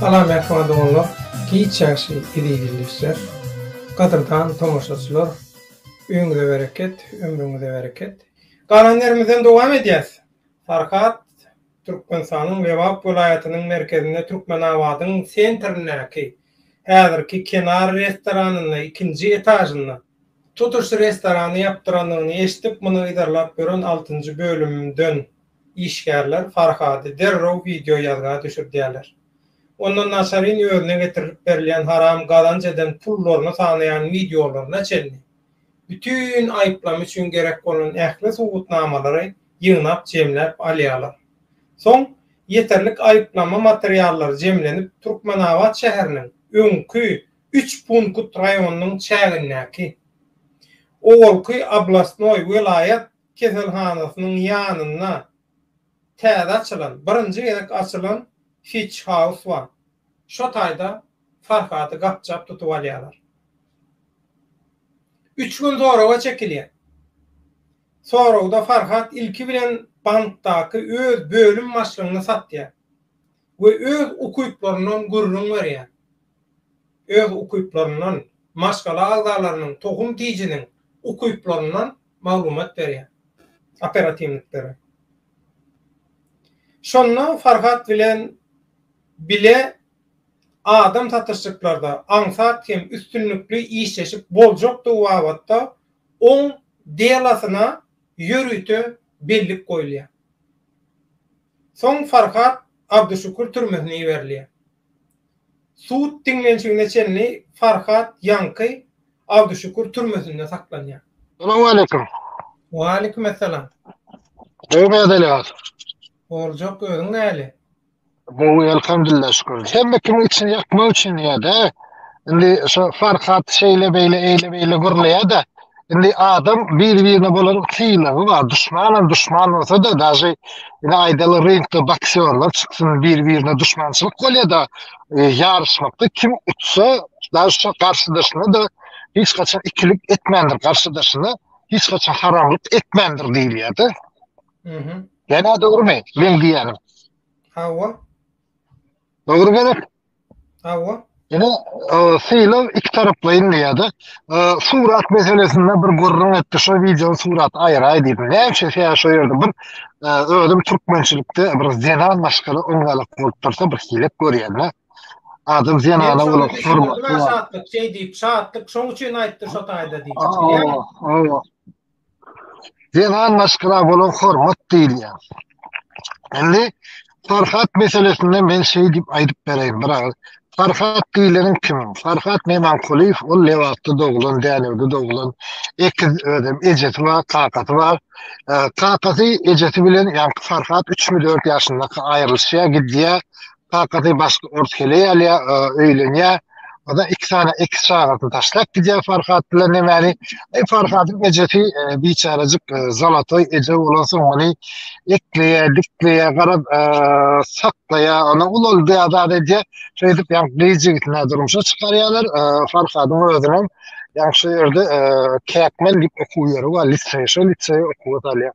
Salam mähriban doganlar, giç ýagşy eziz ildeşler, gadyrdan tomaşaçylar, öýüňize bereket, ömrüňize bereket. Galan ýerimizden dowam edýäs. Farhat, Türkmenistanyň Lebap welaýatynyň merkezinde Türkmenabadyň sentrindäki, häzirki Kenar restoranynda ikinji etažynda. Tutuş restorany ýapdyrandygyny eşidip, muny yzarlap ýören altynjy bölümden işgärler Farhady derrew wideo ýazga düşürdýärler. Onda naçaryň özüne getirilip berilýän haram gazanç eden pullaryny sanaýan wideolaryna çenli bütin aýyplama üçin gerek bolan ähli subutnamalary ýygnap jemläp alýarlar. Soň ýeterlik aýyplama materiallary jemlenip Türkmenabat şäheriniň öňki üç punkt raýonynyň çägindäki, owalky oblastnoý, welaýat, keselhanasynyň ýanynda täze açylan, birinji gezek açylan Fitch House bar. Şo taýda Farhady gapjap tutup alýarlar. Üç gün soraga çekilýär. Soragda Farhat ilki bilen bankdaky öz bölüm başlygyny satýar we öz ukyplaryndan gürrüň berýär. Öz ukyplaryndan, maşgala agzalarynyň, tohum-tijiniň ukyplaryndan maglumat berýär operatiwniklere. Şonda Farhat bilen bile adam satyşyklarda aňsat hem üstünlikli işleşip boljakdygy babatda oň delosyna ýörite bellik goýulýar. Soň Farhat Abduşükür türmesine iberilýär. Sud diňlenişigine çenli Farhat ýaňky Abduşükür türmesinde saklanýar. Salam aleýkum. Waleýkim essalam. Gowy mäzeleňiz. Boljak özüň näli. Gowy elhamdyllah şükür. Hemme kimin içini ýakmak üçin diýýär-de. Indi şu Farhat şeýle beýle eýle beýle gürleýär-de. Indi adam bir-birine bolan sylagy bar. Duşmanam duşman bolsa da, daşy ine aýdaly ringde boksýorlar çyksyn bir-birine duşmançylyk bolýada, e, ýaryşmakda kim utsa, daşy şu garşydaşyna da hiç haçan ikilik etmändir, garşydaşyna hiç haçan haramlyk etmändir diýilýärdi. Mhm. Ýa-da dogrumy? Men diýýänim. Hawa. Dogry gerek. Hawa. Ine, sylag iki taraplaýyn diýýärdi. Surat meselesinde bir gürrüň etdi. Şo wideo surat aýraý diýdi. Näçe ýa şo ýerde bir özüm türkmençilikde bir zenan maşgala oňalyk bolup dursa bir hilek görýän. Adam zenana bolup hormat. Şatlyk şeý diýip, şatlyk şoň üçin aýtdy şo taýda diýip. Hawa. zenan maşgala bolan hormat diýilýär. Indi Farhat meselesinde men şeý diýip aýdyp bereýin bir agyz. Farhat diýleniň kim? Farhat Memankulyýew ol Lebapda doglan, Dänewde doglan, ekiz özem ejesi bar, kakasy bar. Kakasy ejesi bilen ýaňky Farhat üçmi-dört ýaşyndaka aýrylyşýar, gidýär. Kakasy başga ors heleý alýar, öýlenýär. Ondan iki sany ekiz çagasyny taşlap gidýär Farhat bilen Nemäni. E, Farhadyň ejesi e, biçärejik e, zalatoý eje bolan soň ony ekleýär, dikleýär, garap e, saklaýar, ony ulaldy azat edýär. Şeýdip, ýa gyz ýigitini durmuşa çykarýarlar. E, Farhadyň özüniň ýa şu ýerde e, Käkmen diýip okuw ýeri bar, liseý, şu liseý okuwa salýar.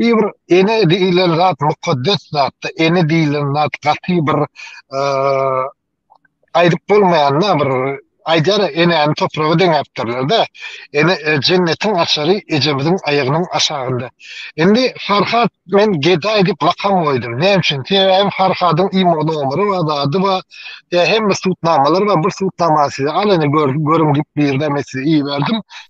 Ýene bir ene diýilen zat mukaddes zatda ene diýilen zat gaty bir aýdyp bolmaýanda bir aýdar enäni topraga deňäpdirlerde ene e, jennetiň açary ejemiziň aýagynyň aşagynda indi farhat men gedaý diýip lakam goýdum näme üçin sebäbi farhadyň imo nomeri bar zady bar e, hemme sutnamalar bar bir sutnamany size alany görüň diýip birden men size iberdim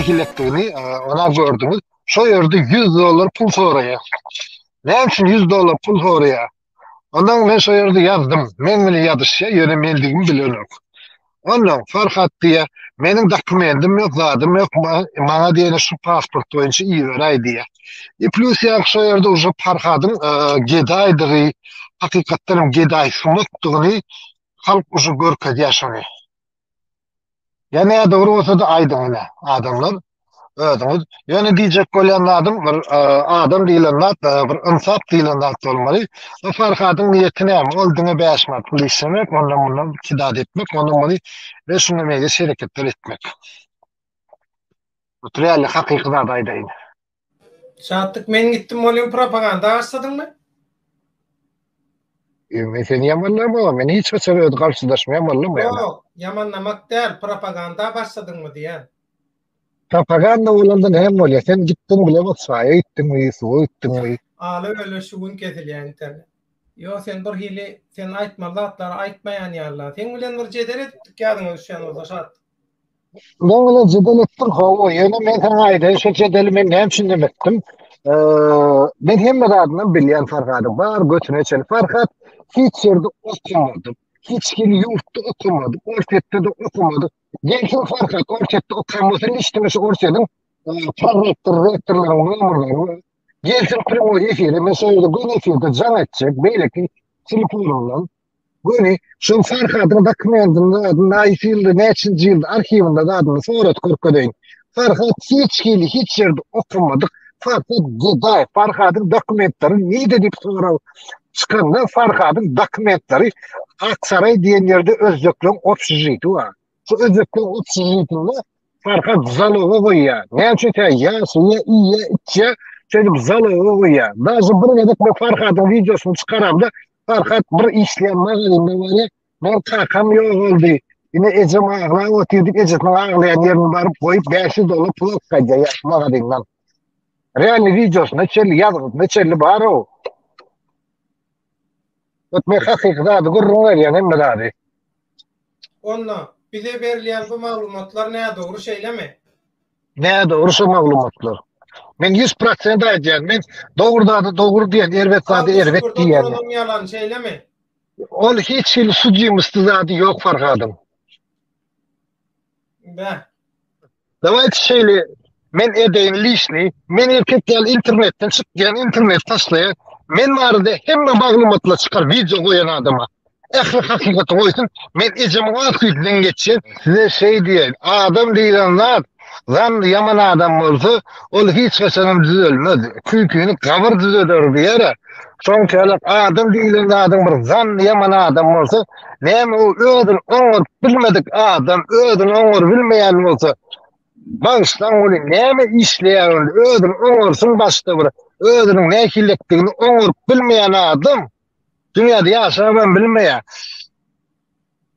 nähilekdigini ona gördüňiz. Şo ýerde 100 dollar pul soraýar. Näme üçin 100 dollar pul soraýar? Ondan men şo ýerde ýazdym. Men bilen ýazyşýar, ýöne mendigimi bilenok. Onda Farhat diýe, meniň dokumentim ýok, zadym ýok, maňa diýene şu pasport boýunça iberäý diýe. E plus ýa şu ýerde uje Farhadyň e, gedaýdygy, hakykatdan hem gedaý sumakdygyny halk uje görkezýär şony. Ýa ne dogry bolsa-da aýdyň ine, adamlar. Özüňiz ýöne diýjek bolýan zadym bir e, adam diýlen zat e, bir ynsap diýlen zat bolmaly. Bu Farhadyň niýeti näme? Ol diňe bäş manat pul işlemek, ondan mundan kidad etmek, ondan muny we şunda meýlis hereketler etmek. Otur ýaly hakyky zat aýdaýyn. Şatlyk men gitdim bolýan propaganda başladyňmy? E, Men seni ýamanlamam, men hiç haçan özi garşydaşmaýan bollam ýaly. Ýok, ýamanlamak däl, propaganda başladyňmy diýen. Propaganda bolanda näme bolýar? Sen gitdiň bile Waçaýa gitdiňmi, Ýusuba gitdiňmi? Aly öle şu gün kesilýär internet. Ýok sen bir hili sen aýtmaly zatlary aýtmaýan ýalyda. Seň bilen bir jedel edipdik ýadyňa düşýän bolsa şat. Meň bilen jedel etdiň hawa ýöne men saňa aýdaýyn şu jedeli men näme üçin näme etdim. Men hemme zadyny bilýän Farhady bar götüne çenli Farhat hiç ýerde okamady. Hiç hili ýurtda okamady. Orsýetde-de okamady. Gelsin Farhat, Orsýetde okan bolsa niçin şu Orsýetiň prorektor, rektorlaryň nomerlerini gelsin primoý efire, men şeýle göz efirde jaň etjek, beýleki telefonumdan. Göni, şu Farhadyň dokumentini, näçinji ýylda arhiwinde zadyny sorat görkezeýin. Farhat hiç hili hiç ýerde okamadyk Farhat Gedaýew, Farhadyň dokumentlary nirde diýip sorag çykanda Farhadyň dokumentlary Aksaraý diýen ýerde özbekleriň obşežiti bar. Şu özbekleriň obşežitinde Farhat zaloga goýýar. Näme üçin tä ýaşaýar, iýýär, içýär, şeýdip zaloga goýýar. Daşy bir gezek men Farhadyň wideosyny çykaramda Farhat bir işleýän magazinde barýar, Mol kakam ýogaldy. Ine ejem aglap otyr diýip ejesiniň aglaýan ýerini baryp goýup 500 dollar pul okadýar ýaş magadyndan. Realny wideosyna çelli ýazgysyna çelli bar-ow. Ot men hakyky zady gürrüň berýän hemme zady. Onda, bize berilýän bu maglumatlar nädogry şeýlemi? Nädogry şu maglumatlar. Men ýüz prosent aýdýan, men dogry zada dogry diýen, erbet zada erbet diýýän. Abdushukurda dolaň ýalan şeýlemi? Ol hiç hili sudimosty zady yok Farhadyň. Bä. Dawayt şeyle men edeyin lişni, men erkek ýaly internetten çyk diyen internet taşlaya, men marada hemme maglumatla çykar video goyan adama. Ehli hakikati goysun, men ecem wagt güydinden geçen. Size şey diyen, adam diyen zat, Zanly ýaman adam bolsa, ol hiç haçanam düzelmez. Küýkini gabyr düzeder diýer-ä. Şonçalak adam diýlen zadyň bir zanly ýaman adam bolsa, näme u özüni oňaryp bilmedik adam özüni oňarybilmeýän bolsa, bagyşlaň welin näme işleýär onda, özüni oňarsyn başda bir, özüniň nähililikdigini oňaryp bilmeýän adam dünýäde ýaşabam bilmeýär.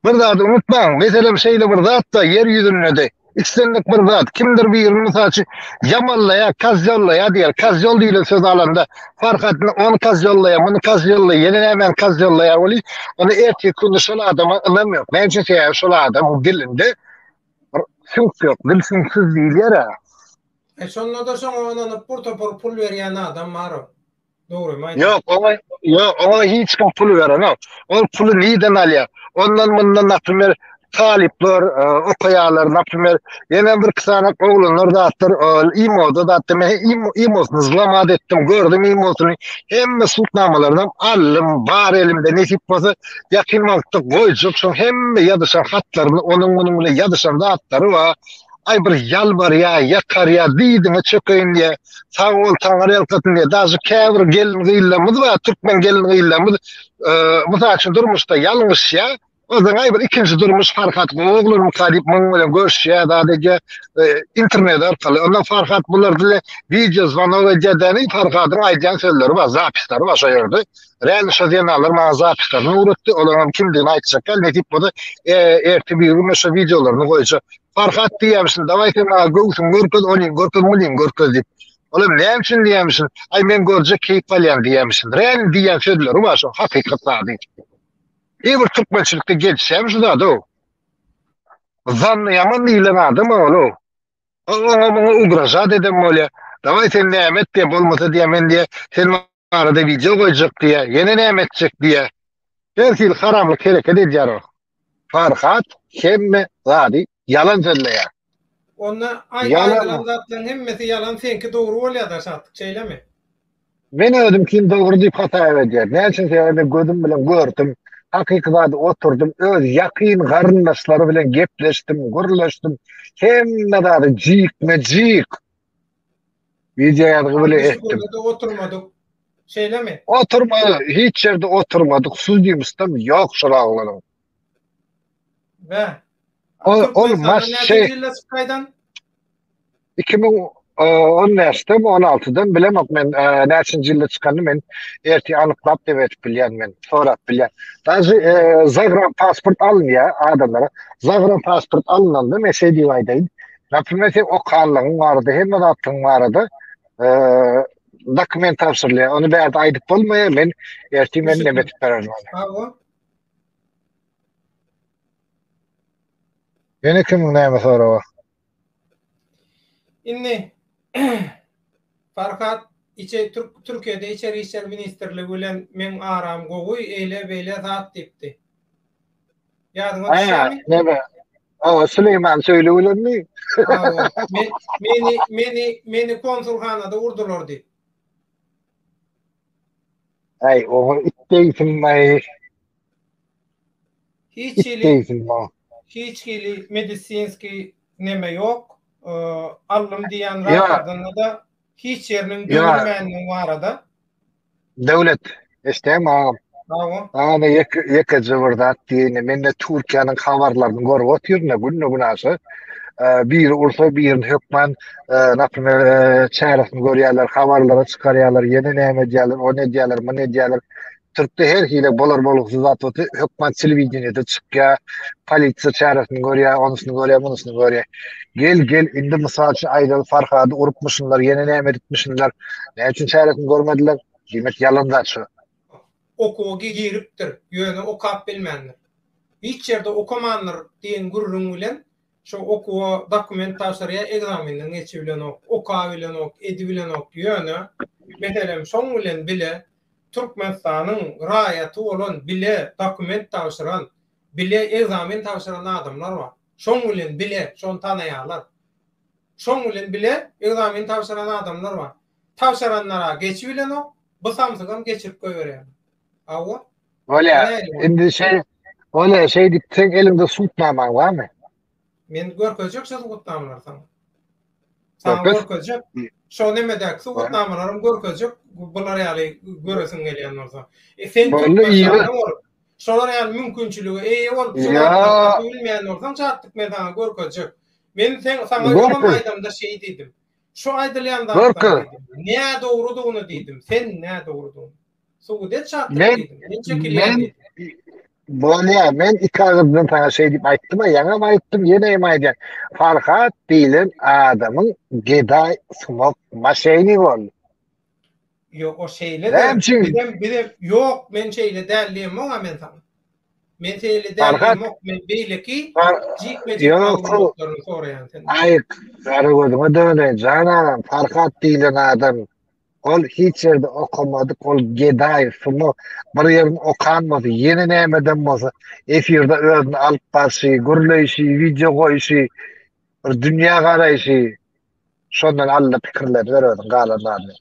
Bir zady unutmaň, meselem, şeýle bir zat-da ýer ýüzünde-de, islendik bir zat, kimdir birini, mysal üçin, ýamanlaýar, kazýollaýar diýer. Kazýol diýlen sözi alanda, Farhadyny ony kazýollaýar, muny kazýollaýar, ýene nämäni kazýollaýar welin, onda erteki günde şol adama ynam ýok. Näme üçin? Sebäbi şol adamyň dilinde bir süňk ýok, dil süňksüz diýilýär-ä. E, şonda-da şoňa ynanyp bir topar pul berýän adam bar-ow. Ýok, oňa ýok, oňa hiç kim pul berenok. Ol puly nireden alýar? Ondan mundan naprimýer talyplar e, okaýarlar, naprimýer ýene bir iki sany oglanlar zatlar e, imoda zat deme, imosyny zlamat etdim, gördüm imosyny. Hemme sultnamalaryny aldym, bar elimde nesip bolsa ýakyn wagtda goýjak şoň hemme ýazyşan hatlaryny, onuň munuň bilen ýazyşan zatlary bar. Aý bir ýalbarýar, ýakarýar, diýdiňe çökeýin diýýär. Sag bol, taňyrýalkasyn diýýär. Daşy käbir gelin-gyzlarymyz bar, türkmen gelin-gyzlarymyz, e, mysal üçin, durmuşda ýalňyşýar. Özüň aýbyr ikinji durmuş Farhat oglunyň taýyp muň bilen görüşýär, zat edýär, e, internet arkaly. Onda Farhat bular bile wideo zwanok edýär-däni, Farhadyň aýdýan sözleri bar, zapislary bar şo ýerde. Rän şo zenalar maňa zapislaryny öwretdi, olaryň kimdigini aýtjak däl, nesip bolsa, e, ertir bir gün şo wideolaryny goýjak. Farhat diýýämişsin, dawaý sen maňa göwsüňi görkez, ony görkez, muny görkez diýip. Olam näme üçin diýýämişsin, aý men görjek keýp alýan diýýämişsindir. Äl diýýän sözleri bar şoň hakykat zady. Eý bir türkmençilikde gelişýämi şu zada o. Zanny ýaman diýilen adam ol. Oňa muňa ugražat eden bolýa. Dawaý sen näme et diýe bolmasa diýe men diýe sen Arada wideo goýjak diýýä, ýene näme etjek diýýä. Her hili haramlyk hereket edýär o. Farhat hemme zady ýalan sözleýär. Onda aý aýdylan zatlaryň hemmesi ýalan seňki dogry bolýada Şatlyk şeýlemi? Men özümkin dogry diýip hasap edýän. Näme üçin sebäbi men gözüm bilen gördüm. Hakyky zady oturdym öz ýakyn garyndaşlary bilen gepleşdim gürleşdim hemme zady jikme jik. Video ýazgy bile etdim. Oturmadyk. Şeýlemi? Oturmadyk. Hiç ýerde oturmadyk. Suz diýmişdim. Ýok şol aglanyň. Bä. Ol ol maş şey. 2010 näçde 16-dan bilemok men e, näçinji ýylda çykanyny men erti anyklap diýip etip bilýän men sorap bilýän. Daşy e, zagran pasport alynýar adamlara. Zagran pasport alynanda men şeýdip aýdaýyn. Naprimesi okanlygyň barada, hemme zatlygyň barada dokument tabşyrylýar. Ony bärde aýdyp bolmaýar, men erti men näme etip bererin ony. Ýene kimiň näme soragy? Indi Farhat içe Türk Türkiýede içeri işler ministrligi bilen meň aram gowy, eýle beýle zat diýipdi. Ýadyňa düşýärmi? Näme? Awa, Süleýman Söýli bilenmi? Awa. Meni, meni, meni konsulhanada urdular diýip. Aý, oňa itdeýsin maý. Hiç hili, hiç hili medisinski neme ýok. Allym diýen rahatlygyny da hiç ýeriniň görmändigini barada. Döwlet, eşitýäňmi agam? Agam. Agam ýeke ýeke jybyr zat diýende mende Türkiýäniň habarlaryny görüp otyryn-da günde gün aşa. Biri ursa birini hökman naprimýer çäresini görýärler, habarlara çykarýarlar, ýene näme edýärler, ony edýärler, muny edýärler. Türkde her hili bolar bolgusyz zat bolsa hökman telewideniýede çykýar, polisiýa çäresini görýär, onusyny görýär, munusyny görýär. Gel gel indi mysal üçin aýdaly Farhady urupmyşynlar ýene näme edipmişinler näme üçin çäresini görmediler diýmek ýalandaç şu. Okuwa giripdir ýöne okap bilmändir. Hiç ýerde okamandyr diýen gürrüň bilen şo okuwa dokument tabşyrýar ekzamenden geçibilenok okabilenok edibilenok ýöne meselem şoň bilen bile Türkmenistanyň raýaty bolan bile dokument tabşyran bile ekzamen tabşyran adamlar bar. Şoň bilen bile, şony tanaýarlar. Şoň bilen bile ekzamen tabşyran adamlar bar. Tabşyranlar-a geçibilenok, bu samsygam geçirip goýberýärler. Hawa. Bolýa. Indi şeý, bolýa, şeý diýip, seň eliňde subutnamaň barmy? Men görkezjek şu subutnamalary saňa. Saňa görkezjek. Şo nemedäki suwutnamalaryň görkezjek. Bular ýaly göresiň gelýän bolsa. E sen Türkmenistanda bolup, şolar ýaly mümkinçilige eýe bolup, suwutnama bilmeýän bolsaň, çatdyk men saňa görkezjek. Men sen saňa ýol aýdamda şeý diýdim. Şu aýdylýan zatlar diýdim. Nädogrudygyny diýdim. Sen nädogrudygyny. Sugudet çatdy. Men men çekilýän. Bolýa, men iki agyrdan sana şey dip aýtdym, ýaňa aýtdym, ýene hem aýdýan. Farhat diýlen adamyň gedaý sumak maşyny boldy. Ýok, o şeýle de. Bizem bizem ýok, men şeýle däl diýen maňa men sana. Men şeýle däl diýen ýok, men beýleki jikme-jik ýoklaryny soraýan sen. Aý, gara gözüňe döne, jan agam, Farhat diýlen adam Ol hiç ýerde okamadyk, ol gedaý, sumo bir ýerini okan bolsa, ýene nämeden bolsa, efirde özüni alyp barşy, gürleýşi, wideo goýuşy, bir dünýä garaýşy, şondan alyndy pikirler, ýör özüň galan zadyň.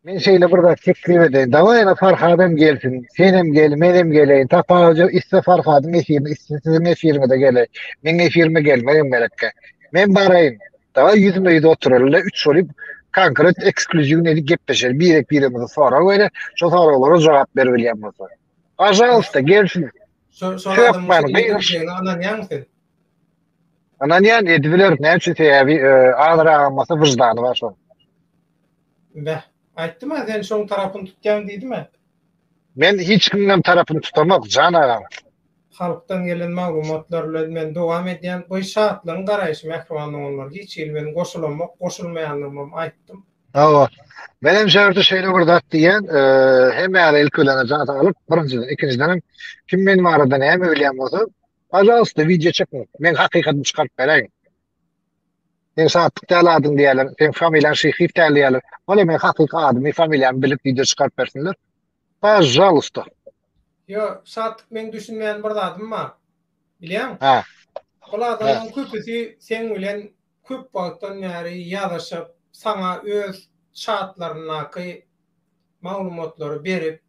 Men şeýle bir zat teklip edeýin, dawaý ene Farhad hem gelsin, sen hem gel, men hem geleýin, tapawudy ýok, iste Farhadyň efirine, iste siziň efiriňize geleý, meň efirime gelmegem gerekkä. Men baraýyn, Da ýüzme ýüz oturalyle üç bolup konkret ekskluziwny edip gepleşeli birek biremize sorag bere şo soraglara jogap ber bilýän bolsa. Pajalsta gelsin. Şo şo adamyň ýüzüne ananýaň sen. Ananýan edip biler näme üçin sebäbi e, agyr agamasa wyždany bar şo. Bäh. Aýtdym ha sen şoň tarapyny tutýaň diýdim ha. Men hiç kimden tarapyny tutamok jan agam. Halkdan gelen maglumatlar bilen men dowam edýän bu şatlygyň garaýşy mähriban doganlar hiç hili men goşulamok goşulmaýanlygymam aýtdym. Hawa. Men hem şeýle şeýle bir zat diýýän hemmäňiz ilki bilen jan saglyk birinjiden ikinjidenem kim men barada näme bilýän bolsa pažalsta wideo çekiň men hakykatyny çykaryp beräýin. Sen şatlyk däl adyň diýýärler sen familiýaň şyhyýew däl diýýärler bolýa men hakyky adymy familiýamy bilip wideo çykaryp bersinler Pažalysta. Ýo, Şatlyk meň düşünmeýän bir zadym bar. Bilýäň? Hä. Bul adamlaryň köpüsi seň bilen köp wagtdan bäri ýazyşyp, saňa öz çatlaryndaky maglumatlary berip,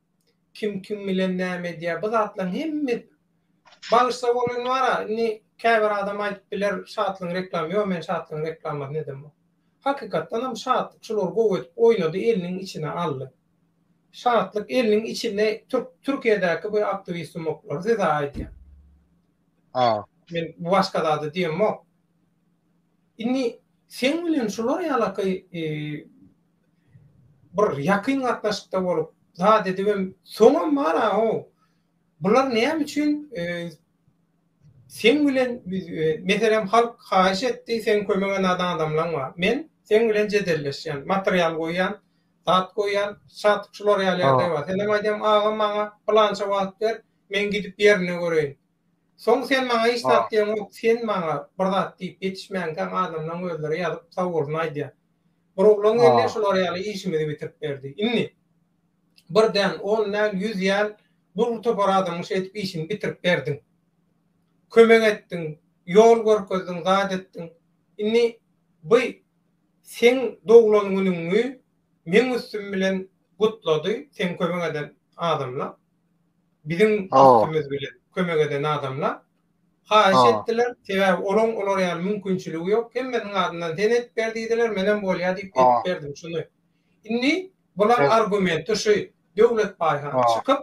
kim kim bilen näme edýär, bu zatlaryň hemmesi Bagyşla bolany bar-a, indi käbir adam aýdyp biler, Şatlygyň reklamy, ýo, men Şatlygyň reklamasyny edemok. Hakykatdanam Şatlyk şulary gowy edip oýnady, eliniň içine aldy. Şatlyk eliniň içinde türk türkiýedäki bu aktiwist sumaklary size aýdýan. A. Men başga zady diýemok. Indi seň bilen şular ýalaky e, bir ýakyn gatnaşykda bolup zat edibem soňam bar a o. Bular näme üçin e, sen bilen e, meselem halk haýyş etdi, sen kömege nadan adamlaň bar. Men sen bilen jedelleşýän, material goýýan, Zat goýýan Satyk şular ýaly ýagdaý bar. Senem aýdýan agam maňa pylança wagt ber, men gidip ýerinde göreýin. Soň sen maňa hiç zat diýen ýok, sen maňa bir zat diýip ýetişmänkäň adamlaň özleri ýazyp sag bolsun aýdýar. Bir oglan geldi şular ýaly işimizi bitirip berdi. Indi bir däl, on däl, ýüz ýäl dürli topar adamyň şeýdip işini bitirip berdiň. Kömek etdiň, ýol görkezdiň, zat etdiň. Indi by Seň doglan günüňi meň üstüm bilen gutlady seň kömek eden adamla biziň üstümiz bilen kömek eden adamla haýyş etdiler sebäbi olaň olar ýaly mümkinçiligi ýok hemmesiniň adyndan sen edip ber diýdiler menem bolýa diýip edip berdim şuny indi bulaň argumenti şu Döwlet Baýhan çykyp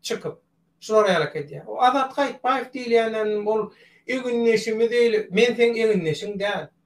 çykyp şular ýalak edýä o Azat Haýytbaýew diýilýänem ol egindeşimiz eýle men seň egindeşiň däl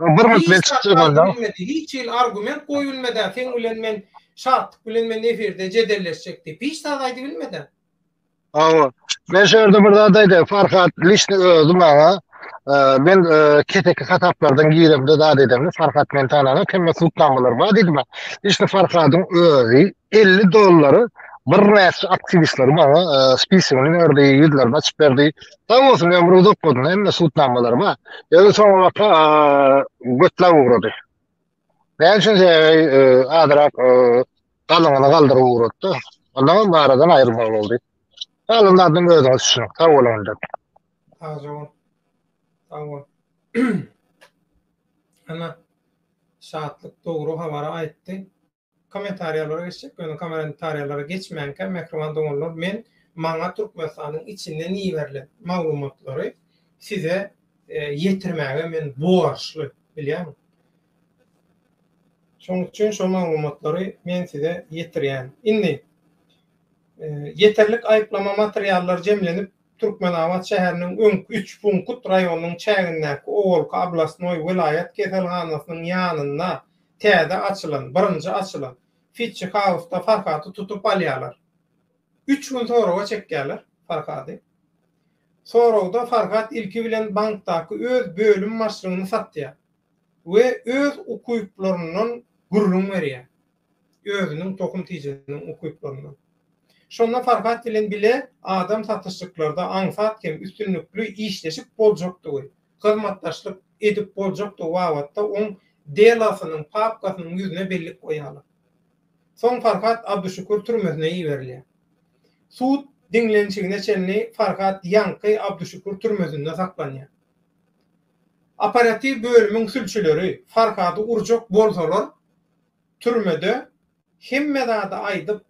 Bir minut men çykyp çykalda. Hiç hili argument goýup bilmeden seň bilen men Şatlyk bilen men efirde jedelleşjek diýip hiç zat aýdyp bilmeden. Hawa. Men şu ýerde bir zat aýdaýyn. Farhat lişni özi maňa men keseki hasaplardan giremde zat edemde Farhat men tanana kemme sultanlar bar diýdi maňa. Lişni Farhadyň özi 50 dollary bir näçe aktiwistler maňa spisigini berdi, ýüzlerini açyp berdi. Sag bolsun ömri uzak bolsun hemme sud namalar ba. Özi soňa waka götlap ugrady. Näme üçin azyrak galyňyny galdyryp ugratdy. Ondan hem aradan aýrylmak boldy. Galan zadym özüňiz üçin. Sag boluň indi. Sag bol. Sag bol. Ana şatlyk dogry habary aýtdy. Kommentariýalara geçjek, ýöne kommentariýalara geçmänkä mähriban doganlar men maňa Türkmenistanyň içinden iberilen maglumatlary size ýetirmäge men borçly bilýäňiz. Şonuň üçin şo maglumatlary men size ýetirýän. Indi ýeterlik aýyplama materiallary jemlenip Türkmenabat şäheriniň öňki üç punkut raýonyň çägindäki owalky oblastnoý, welaýat, keselhanasynyň ýanynda Täze açylan, birinji açylan Fitchi House-da Farhady tutup alýarlar. Üç gün soraga çekýärler Farhady. Soragda Farhat ilki bilen bankdaky öz bölüm başlygyny satýar we öz ukyplaryndan gürrüň berýär. Özüniň tohum tijiniň ukyplaryndan. Şonda Farhat bilen bile adam satyşyklarda aňsat hem üstünlikli işleşip boljakdygy, hyzmatdaşlyk edip boljakdygy babatda oň delasynyň papkasynyň ýüzüne bellik goýýarlar. Soň Farhat Abduşükür türmesine iberilýär. Sud diňlenişigine çenli Farhat ýaňky Abduşükür türmesinde saklanýar. Operatiw bölümiň sülçüleri Farhady urjak bolsalar, türmede hemme zady aýdyp,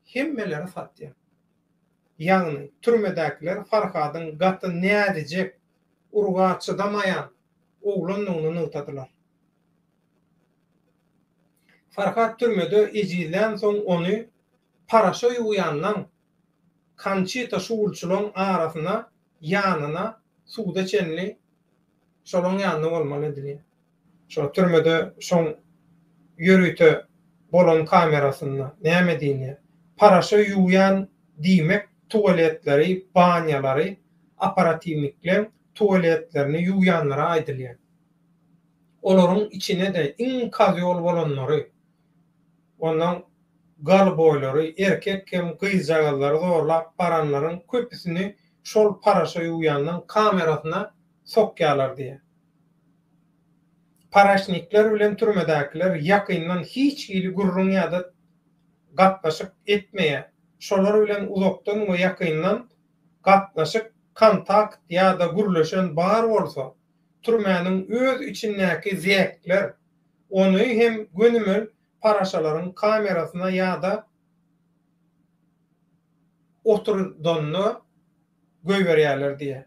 hemmeleri satýar. Ýagny, türmedäkiler Farhadyň gaty näzijek urga çydamaýan oglandygyny nygtadylar. Farhat türmede ejizlänsoň ony paraşa ýuwýanlaň Konçita şugulçylaň arasyna ýanyna suwda çenli şolaň ýanynda bolmaly edilýär. Şo türmede şoň ýörite bolan kamerasynda näme diýilýär? Paraşa ýuwýan diýmek tuwaletleri, banýalary operatiwnikleň tuwaletlerini ýuwýanlara aýdylýar. Olaryň içine-de iň kazyol bolanlary, onnoň golboýlary, erkek hem gyzjagazlary zorlap baranlaryň köpüsini şol paraşa ýuwýanlaň kamerasyna sokýarlar diýýär. Paraşnikler bilen türmedäkiler ýakyndan hiç hili gürrüň ýa-da gatnaşyk etmeýär. Şolar bilen uzakdan we ýakyndan gatnaşyk, kontakt ýa-da gürleşen bar bolsa, türmäniň öz içindäki zäkler ony hem gönümel paraşalaryň kamerasyna ýa-da oturdanyna goýberýärler diýýär.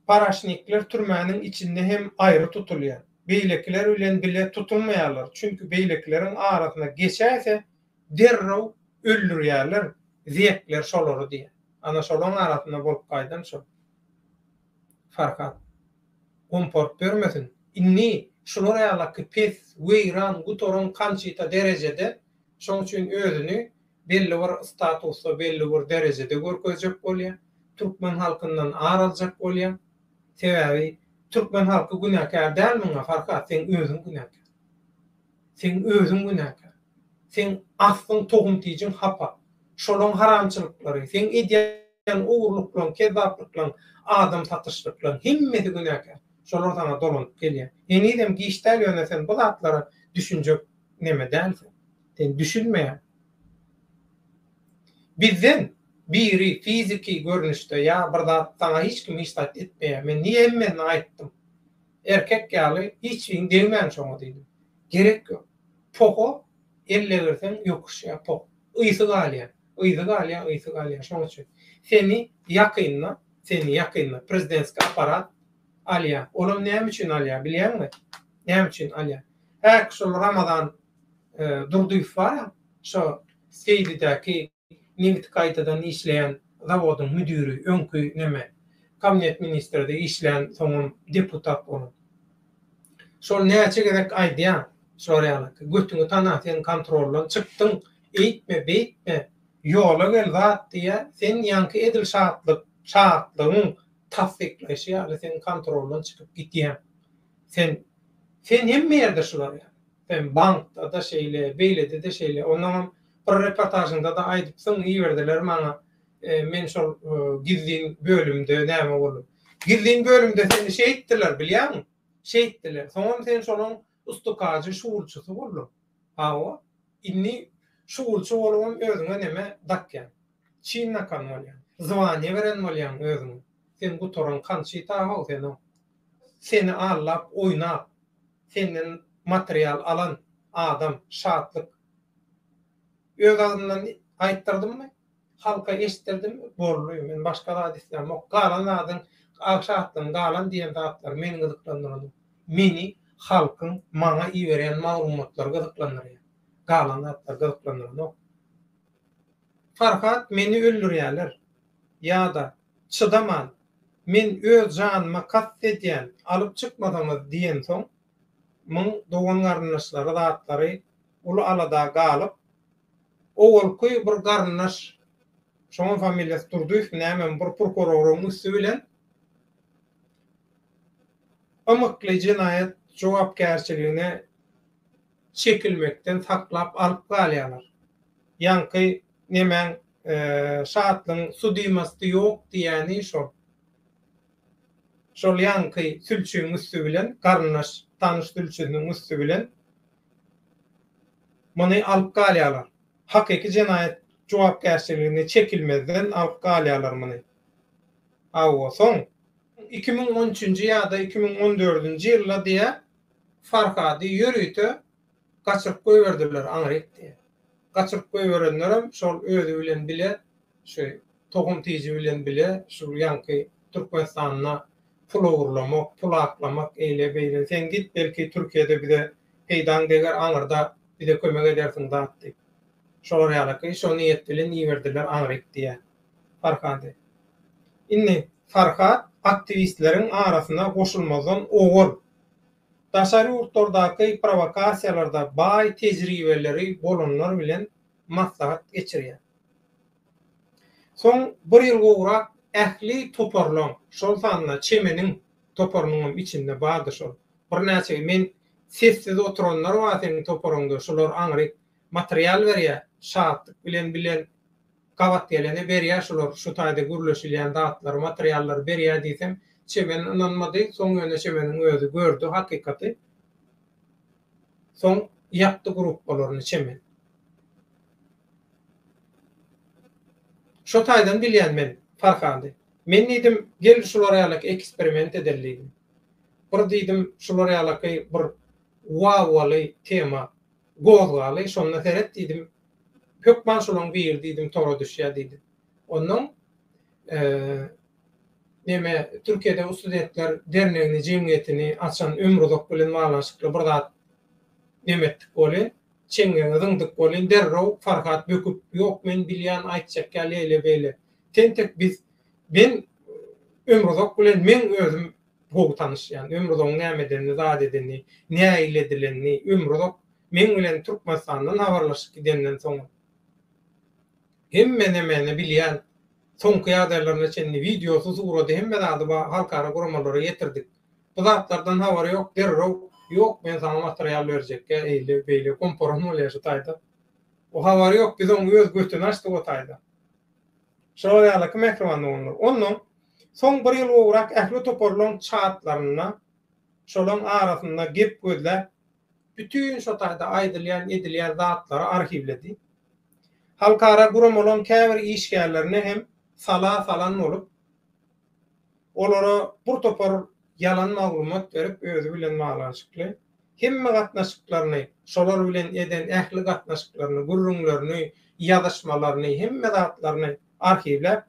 Paraşnikler türmäniň içinde hem aýry tutulýar. Beýlekiler bilen bile tutulmaýarlar, çünki beýlekileriň arasyna geçäýse, derrew öldürýärler, zekler şolary diýýär. Ana, şolaň arasynda bolup gaýdan şo. Farhat. Gomporup bermesin. Indi şular ýalaky pes, weýran, gutaran kançita derejede, şoň üçin özüni belli bir statusda, belli bir derejede görkezjek bolýar, türkmen halkyndan ar aljak bolýar. Sebäbi türkmen halky günäkär däl muňa, Farhat, seň özüň günäkär. Seň özüň günäkär. Seň aslyň tohum-tijiň hapa. Şolaň haramçylyklary, seň edýän ogurlyklaň, kezzaplyklaň, adam satyşlyklaň, hemmesi günäkär. Şolar saňa dolanyp gelýär. Henizem giç däl, ýöne sen bu zatlara düşünjek Neme däl sen? Sen düşünmeýäň. Bizden biri fiziki görnüşde ýa bir zat saňa hiç kim hiç zat etmeýär. Men niýe hemmäni aýtdym. Erkek ýaly hiç biriň degmäň şoňa diýdim. Gerek ýok. Poho elle girseň ýokuşýar poh. Ysy galýar. Yzy galýar, ysy galýar. Şoň üçin seni ýakynda, seni ýakynda prezidentskiý apparat Alýa. Olam näme üçin alýa, bilýäňmi? Näme üçin alýa? Häki şol Ramazan Durdyýew bar-a, şo Seýdidäki nebit gaýtadan işleýän zawodyň müdiri, öňki neme, kabinet ministrde işlän, soňam deputat bolan. Şol näçe gezek aýdýa, şolar ýalyky, götüňi tana, sen kontroldan çykdyň, eýtme, beýtme, ýola gel zat diýýä, sen ýaňky edil şatlyk, şatlygyň tassyklaýşy ýaly seň kontroldan çykyp gidýän. Sen sen hemme ýerde şular ýaly. Sen bankda-da şeýle, beýlede-de şeýle. Onnoňam bir reportažyňda-da aýdypsyň, iberdiler maňa, men şol gizlin bölümde näme bolup. Gizlin bölümde seni şeýtdiler, bilýäňmi? Şeýtdiler. Soňam sen şonuň Usta kajy şugulçysy boldum. Hawa, indi şugulçy bolubam özüňe neme dakýaň? Çyn nakan bolýaň. Zwaniýe beren bolýaň özüňe. Sen gutaran kançita-haw sen-ow. Seni aldap, oýnap, senden material alan adam Şatlyk öz agzyndan aýtdyrdymmy? Halka eşitdirdim boldy men başga zat islämok galan zadyň ak şatlygyň galan diýen zatlary meni gyzyklandyranok meni halkyň maňa iberýän maglumatlary gyzyklandyrýar galan zatlar gyzyklandyranok Farhat meni öldürýäler ýada çydaman men öz janyma kast edýän alyp çykmasaňyz diýensoň muň dogan garyndaşlary zatlary uly alada galyp, owalky bir garyndaş, şoňam familiýasy Durdyýewmi nämemi bir prokuroryň üsti bilen ymykly jenaýat jogapkärçiligine çekilmekden saklap alyp galýarlar. Ýaňky nemäň Şatlyň sudimasty ýok diýýäni şol. Şol ýaňky sülçüň üsti bilen, garyndaş, tanyş sülçüniň üsti bilen Muny alyp galýarlar. Hakyky jenaýat jogapkärçiligine çekilmezden alyp galýarlar muny. Hawa, soň. Iki müň on üçünji ýa-da iki müň on dördünji ýylda diýä, Farhady ýörite gaçyryp goýberdiler, aňryk diýä. Gaçyryp goýberenlerem şol özi bilen bile Şu tohum tiji bilen bile şu ýaňky Türkmenistanda pul ogurlamak, pul aklamak, eýle beýle. Sen git, belki Türkiýede bize peýdaň deger, aňyrda bize kömek edersiň zat diýip. Şolar ýalyky. Şo niýet bilen iberdiler aňryk diýýän Farhady. Indi Farhat aktiwistleriň arasyna goşulmazdan owal daşary ýurtlardaky prowakasiýalarda baý tejribeleri bolanlar bilen maslahat geçirýär. Soň bir ýyl gowrak ähli toparlaň, şol sanda Çemeniň toparynyň hem içinde bardy şol. Birnäçe men sessiz oturanlar bar seniň toparyňda, şular aňryk material berýär, Şatlyk bilen bilen gabat gelene berýär şular, şu taýda gürleşilýän zatlary, materiallary berýär diýsem, Çemen ynanmady, soň ýöne Çemeniň özi gördi hakykaty. Soň ýakdy gruppalaryny çemen. Şo taýdan bilýän men Farhady. Men diýdim, gel şular ýalaky eksperiment edeli diýdim. Bir diýdim şular ýalaky bir wawwaly tema gozgaly, şonda seret diýdim, hökman şolaň biri diýdim tora düşýär diýdim. Onuň neme Türkiýede u studentler dernegini jemgyýetini açan Ömruzak bilen baglanyşykly bir zat neme etdik welin, çeňňeňi zyňdyk welin derrew Farhat böküp, Ýok, men bilýän, aýtjak ýaly ýeýle-beýle. Tentek biz men Ömruzak bilen meň özüm gowy tanyş. Ýagny Ömruzagyň näme edenini, zat edenini, nähili edilenini, Ömruzak meň bilen Türkmenistandan habarlaşyp gidenden soň, Hemme nemeni bilýän soňky ýagdaýlaryna çenli wideosy surady hemme zady bar halkara guramalara ýetirdik bu zatlardan habary ýok derrew ýok men saňa material berjekkä eýle beýle gomparan bolýa şu taýda o habary ýok biz oň öz götüni açdyk o taýda şolar ýalyky mähriban doganlar onnoň soň bir ýyl gowrak ähli toparlaň çatlarynda şolaň arasynda gep gözläp bütin şo taýda aýdylýan edilýän zatlary arhiwledi. Halkara guramalaryň käbir işgärlerine hem sala salan bolup, olara bir topar ýalan maglumat berip, özi bilen baglanyşykly hemme gatnaşyklaryny, şolar bilen eden ähli gatnaşyklaryny, gürrüňlerini, ýazyşmalaryny, hemme zatlaryny arhiwläp,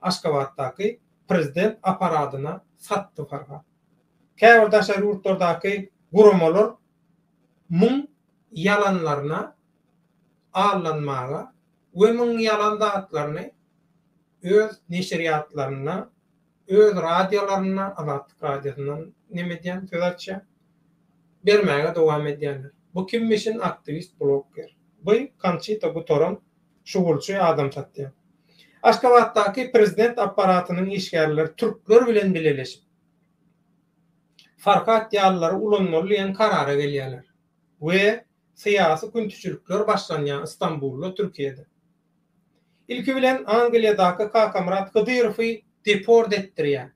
Aşgabatdaky prezident apparadyna satdy Farhat. Käbir daşary ýurtlardaky guramalar muň ýalanlaryna allanmaga we müň ýalan zatlaryny öz neşirýatlarynda, öz radiolarynda, Azatlyk Radiosynda neme edýän, söz açýan, bermäge dowam edýänler. Bu kim biçin aktiwist, bloger. Bu Konçita gutaran şugulçy adam satýan. Aşgabatdaky prezident apparatynyň işgärleri türkler bilen bileleşip, Farhat ýalylary ulanmaly diýen karara gelýärler. we syýasy küntiçilikler başlanýan Istanbulda, Türkiýede. Ilki bilen Angliýadaky Kakamyrat Hydyrowy deport etdirýär.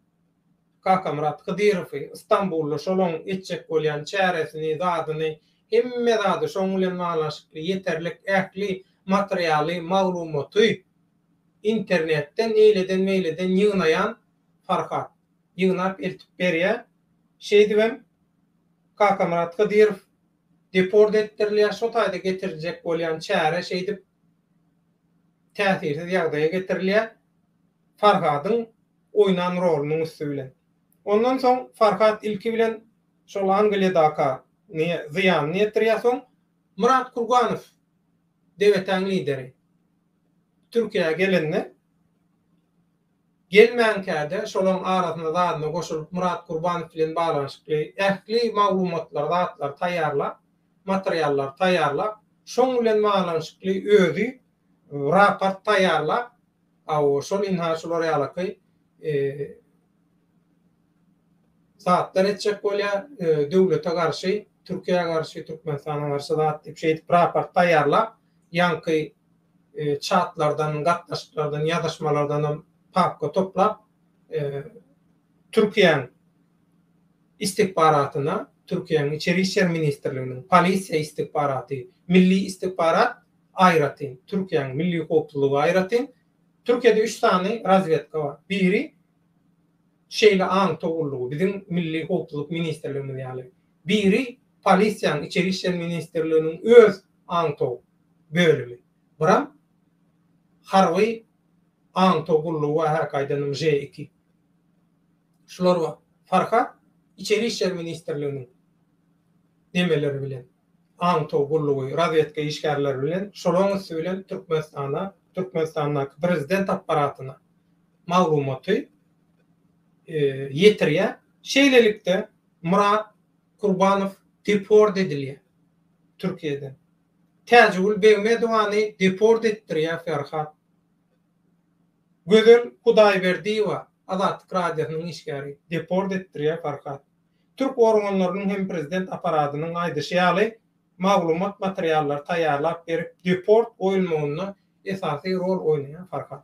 Kakamyrat Hydyrowy Istanbulda şolaň etjek bolýan çäresini, zadyny, hemme zady şoň bilen baglanyşykly ýeterlik ähli materialy, maglumaty internetden eýleden-beýleden ýygnaýan Farhat. ýygnap eltip berýär. Şeýdibem Kakamyrat Hydyrow deport etdirilýär. Şo taýda getiriljek bolýan çäre şeýdip täsirsiz ýagdaýa getirilýär. Farhadyň oýnan rolunyň üsti bilen. Ondan soň Farhat ilki bilen şol Angliýadaka ny zyýanyny ýetirýär. Soň Myrat Kurganow DGT-niň lideri Türkiýä gelende Gelmänkä-de, şolaryň arasyna zadyna goşulyp Myrat Gurbanow bilen baglanyşykly ähli maglumatlary, zatlary taýýarlap, materiallary taýýarlap, şoň bilen baglanyşykly özi raport taýýarlap, hawa, şol ynha şular ýalaky zatlar etjek bolýar, döwlete garşy, Türkiýä garşy, Türkmenistana garşy zat diýip, şeýdip raport taýýarlap, ýaňky çatlardan, gatnaşyklardan, ýazyşmalardanam papka toplap, Türkiýäň istikbaratyna, Türkiýäň Içeri işler ministrliginiň polisiýa istikbaraty, milli istikbarat aýratyn, Türkiýäň milli howpsuzlygy aýratyn, Türkiýede üç sany razwedka bar. Biri şeýle aňtaw gullugy, biziň milli howpsuzlyk ministrligimiz ýaly. Biri polisiýanyň, Içeri işler ministrliginiň öz aňtaw bölümi. Biram harby aňtaw gullugy bar häk aýdanyň Ž iki. Şular bar. Farhat Içeri işler ministrliginiň nemeleri bilen, aňtaw gullugy, razwedka işgärleri bilen, şolaň üsti bilen Türkmenistana, Türkmenistandaky prezident apparatyna maglumaty ýetirýär. Şeýlelikde, Myrat Kurbanow deport edilýär Türkiýeden. Täjigül Begmedowany deport etdirýär Ferhat. Gözel Hudaýberdiýewa, Azatlyk Radiosynyň işgäri, deport etdirýär Ferhat. Türk organlarynyň hem prezident apparatynyň aýdyşy ýaly, maglumat materiallary taýýarlap berip deport goýulmagynda esasy rol oýnaýan Ferhat.